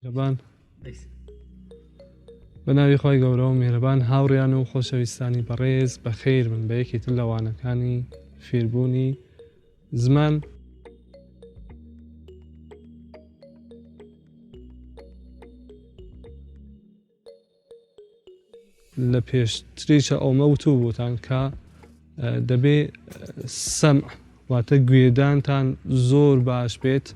میهرەبان بە ناوی خۆی گەورە و میهرەبان هاوڕیان و خۆشەویستانی بەڕێز بە خیر من بە یەکێتر لەوانەکانی فێربوونی زمان لە پێشتریشە ئەومە وتو بوتان کە دەبێ سەم واتە گوێدانتان زۆر باش بێت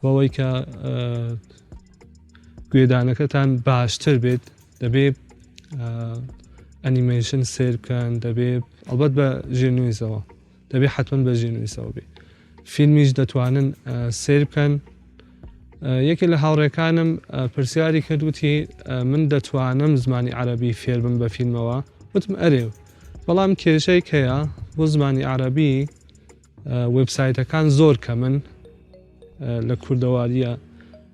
بەوەی کە گوێدانەکەتان باشتر بێت دەبێ ئەنیمەیشن سێر بکەن دەبێ ئەڵبەت بە ژێرنویزەوە دەبێ حەتمەن بە ژێنویسەوە بێ فیلمیش دەتوانن سیر بکەن یەکێ لە هاوڕێکانم پرسیاری کردوتی من دەتوانم زمانی عربی فێربم بە فیلمەوە وتم ئەرێ بەڵام کێشەی کەیە بۆ زمانی عربی وبسایتەکان زۆر کە من لە کوردەوارییە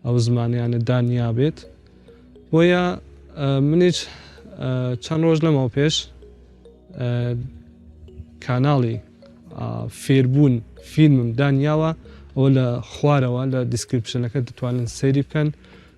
ئەو زمانیانە دا نیابێت بۆیە منیش چەند ڕۆژ لەمەوە پێش کاناڵی فێربوون فیلمم دانیاوە ئەوە لە خوارەوە لە دیسکرپشنەکە دەتوانن سەیری بکەن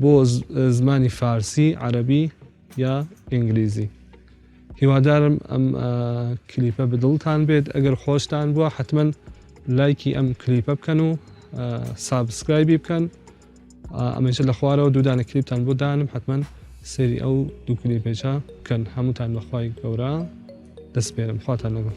بۆ زمانی فارسی عەرەبی یا ئینگلیزی. هیوادارم ئەم کلیپە بدڵتان بێت ئەگەر خۆشتان بووە حتمما لایکی ئەم کلیپە بکەن و سابسکرایبی بکەن ئەمەش لە خوارەوە دوودانە کلیپتان بۆ دانم حتمما سری ئەو دوو کلیپێچە بکەن هەمووتان بەخوای گەورە دەستپێرم خواتان لەگەڵ